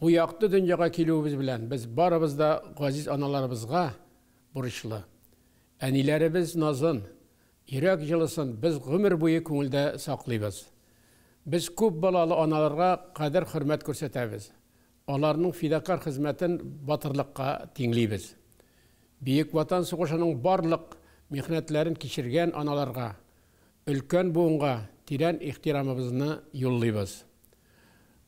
Бу якты дөньяга килүебез белән без барыбыз да газиз аналарыбызга бурычлы. Әниләребез назын, йөрәк җылысын без гомер буе күңелдә саклыйбыз. Без күп балалы аналарга кадер-хөрмәт күрсәтәбез, аларның фидакарь хезмәтен батырлыкка тиңлибез. Бөек Ватан сугышының барлык михнәтләрен кичергән аналарга өлкән буынга тирән ихтирамыбызны юллыйбыз.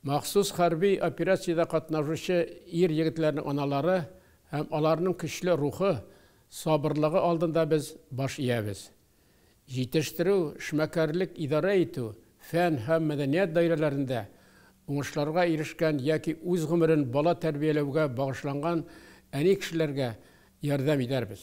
Махсус хәрби операциядә катнашучы ир-егетләрнең аналары һәм аларның көчле рухы, сабырлыгы алдында без баш иябез. Җитештерү, эшмәкәрлек, идарә итү, фән һәм мәдәният даирәләрендә уңышларга ирешкән яки үз гомерен бала тәрбияләүгә багышланган әни кешеләргә ярдәм итәрбез.